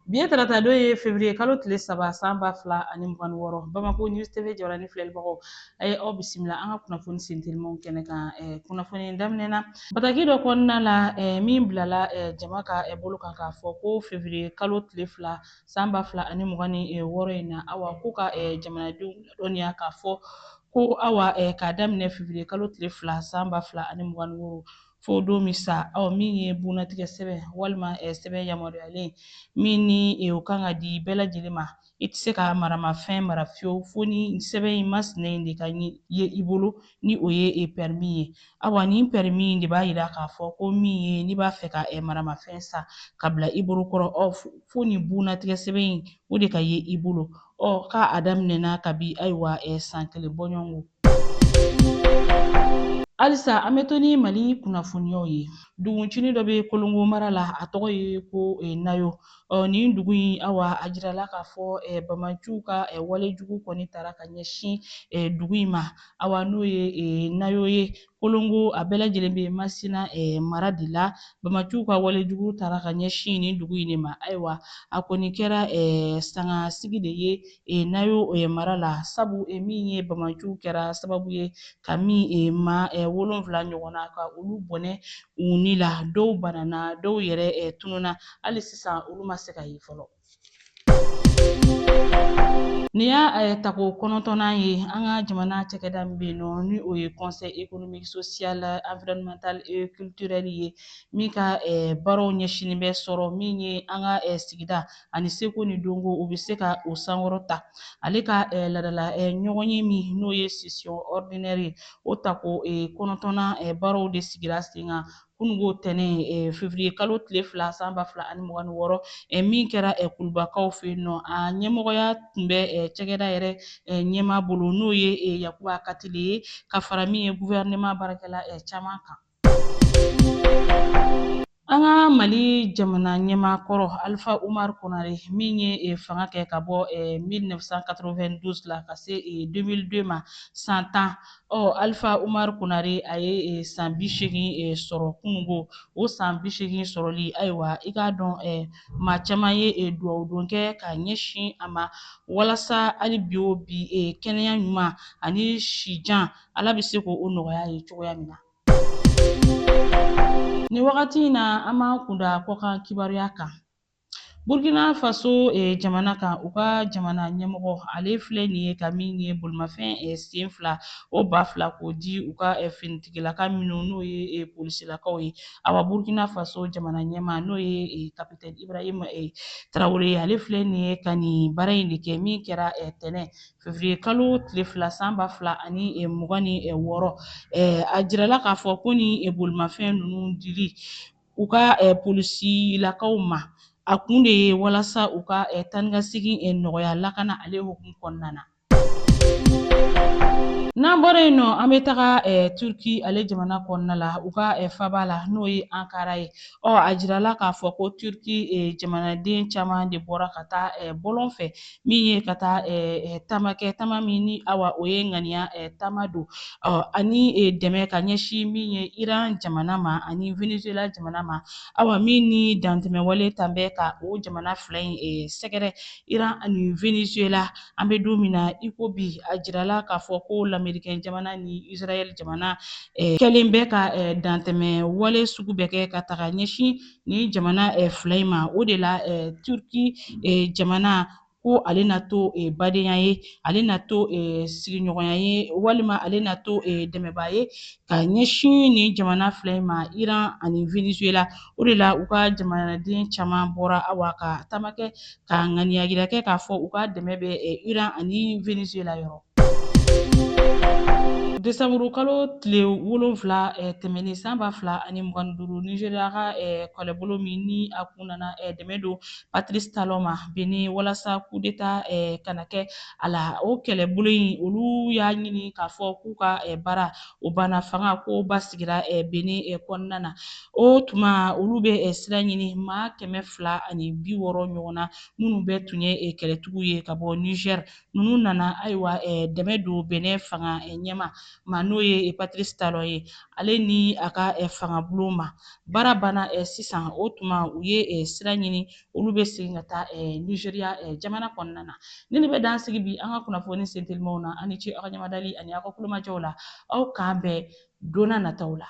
Bi ye tarata don ye fevriye kalo tile saba san ba fila ani mugan ni wɔɔrɔ Bamako News TV jabarani filɛlibagaw a ye aw bisimila an ka kunnafoni sentelimanw kɛnɛ kan eh, kunnafoni daminɛna bataki dɔ kɔnɔna la eh, min bilala eh, jama ka eh, bolo kan k'a fɔ ko fevriye kalo tile fila san ba fila ani mugan ni eh, wɔɔrɔ in na awa ko ka eh, jamanadenw ladɔnniya k'a fɔ ko awa eh, k'a daminɛ fevriye kalo tile fila san ba fila ani mugan ni wɔɔrɔ fo don min sa ɔ min ye bunnatigɛ sɛbɛn walima sɛbɛn yamaruyalen min ni o kan ka di bɛɛ lajɛlen ma i tɛ se ka maramafɛn mara fiyewu fo ni sɛbɛn in masina in de ka ye i bolo ni o ye e pɛrimi ye awa nin pɛrimi in de b'a yira k'a fɔ ko min ye n'i b'a fɛ ka maramafɛn san ka bila i bolo kɔrɔ ɔ fo nin bunnatigɛ sɛbɛn in o de ka ye i bolo ɔ k'a daminɛna kabi ayiwa san kelen bɔɲɔgɔnko Halisa an bɛ to ni Mali kunnafoniyaw ye. Duguncini dɔ bɛ Kolongo mara la, a tɔgɔ ye ko eh, Nayo. Ɔ nin dugu in, awa, a jirala k'a fɔ eh, banbaanciw ka eh, walejugu kɔni taara ka ɲɛsin eh, dugu in ma, awa, n'o ye eh, Nayo ye. kolongo a bɛɛ lajɛlen bɛ masina eh, mara de la banbaanciw ka walejugu taara ka ɲɛsin nin dugu in de ma ayiwa a kɔni kɛra eh, sanga sigi de ye eh, nayo eh, mara la sabu eh, min ye banbaanciw kɛra sababu ye ka min eh, maa eh, wolonfila ɲɔgɔnna ka olu bɔnɛ u ni la dɔw banana dɔw yɛrɛ eh, tununa hali sisan olu ma se ka ye fɔlɔ Nin y'a eh, tako kɔnɔntɔnnan ye an ka jamana cɛkɛda min bɛ yen nɔ ni o ye conseil économique social environnemental et culturel ye min ka eh, baaraw ɲɛsinnen bɛ sɔrɔ min ye an ka eh, sigida ani seko ni dɔnko u bɛ se ka o sankɔrɔta ale ka laadala ɲɔgɔnye min n'o ye session ordinaire ye o tako kɔnɔntɔnnan baaraw de sigira sen kan kununko tɛnɛn fevriye kalo tile fila san ba fila ani mugan ni wɔɔrɔ min kɛra kulubakaw fɛ yen nɔ a ɲɛmɔgɔya tun bɛ cɛkɛda yɛrɛ ɲɛmaa bolo n'o ye yakuba katile ye ka fara min ye guvɛrɛnɛma baarakɛla caman kan an ka mali jamana ɲɛmaa kɔrɔ alifa umar konare min ye eh, fanga kɛ ka bɔ 1992 eh, la ka se 2002 eh, ma san tan ɔ alifa umar konare a ye e, san bi seegin e, sɔrɔ kununko o san bi seegin sɔrɔli ayiwa i k'a dɔn e, maa caman ye e, duwawu don kɛ ka ɲɛsin a ma walasa hali bi o bi e, kɛnɛya ɲuman ani sijan ala bɛ se k'o nɔgɔya ye cogoya min na nin wagati in na an b'an kun da kɔkan kibaruya kan Burkina Faso eh, jamana kan u ka jamana ɲɛmɔgɔ ale filɛ nin ye ka min ye bolimafɛn eh, sen fila o ba fila k'o di u ka eh, finitigilaka minnu n'o ye eh, polisilakaw ye awa Burkina Faso jamana ɲɛmaa n'o ye eh, kapitɛni Ibrahim eh, Tarawele ye ale filɛ nin ye ka nin baara in de kɛ min kɛra eh, tɛnɛ fevriye kalo tile fila san ba fila ani eh, mugan ni eh, wɔɔrɔ eh, a jirala k'a fɔ ko ni eh, bolimafɛn ninnu dili u ka polisilakaw ma a kun de ye walasa u ka taa ni ka segin nɔgɔya lakana ale hukumu kɔnɔna na n'an bɔra yen nɔ an bɛ taga turki ale jamana kɔnɔna la u ka faba la n'o ye ankara ye ɔ a jirala k'a fɔ ko turki jamanaden caman de bɔra ka taa bɔlɔn fɛ min ye ka taa taama kɛ taama min ni awa o ye ŋaniya taama don ani dɛmɛ ka ɲɛsin min ye iran jamana ma ani venezuela jamana ma awa min ni dantɛmɛwale tan bɛ ka o jamana fila in sɛgɛrɛ iran ani venezuela an bɛ don min na i ko bi a jirala k'a fɔ ko lamerikɛn jamana ni israɛl jamana kɛlen bɛ ka dantɛmɛ wale sugu bɛɛ kɛ ka taga ɲɛsin nin jamana eh, fila in ma o de la eh, turki eh, jamana ko ale na to eh, badenya ye ale na to eh, sigiɲɔgɔnya ye walima ale na to eh, dɛmɛbaa ye ka ɲɛsin nin jamana fila in ma iran ani venezuela o de la u ka jamanaden caman bɔra awa ka taama kɛ Ka ŋaniya jira kɛ k'a fɔ u ka dɛmɛ bɛ Iran ani Venezuela yɔrɔ. Desanburu kalo tile wolonwula tɛmɛnen san ba fila ani mugan ni duuru, Nigeria ka kɛlɛbolo min ni a kun nana dɛmɛ don Patrice Talon ma Benin walasa coup d'Etat kana kɛ a la, o kɛlɛbolo in olu y'a ɲini k'a fɔ k'u ka baara o banna fanga ko basigira benin kɔnɔna na o tuma olu bɛ sira ɲini maa kɛmɛ fila ani bi wɔɔrɔ ɲɔgɔn na minnu bɛɛ tun ye kɛlɛtigiw ye ka bɔ niger ninnu nana ayiwa dɛmɛ don benin fanga ɲɛmaa ma n'o ye patrice talon ye ale ni a ka fangabulon ma baara banna sisan o tuma u ye sira ɲini olu bɛ segin ka taa nizeriya jamana kɔnɔna na ni ne bɛ dan sigi bi an ka kunnafoni sentelimaw na aw ni ce aw ka ɲamadali ani aw ka kulomajɔw la aw k'an bɛn donna nataw la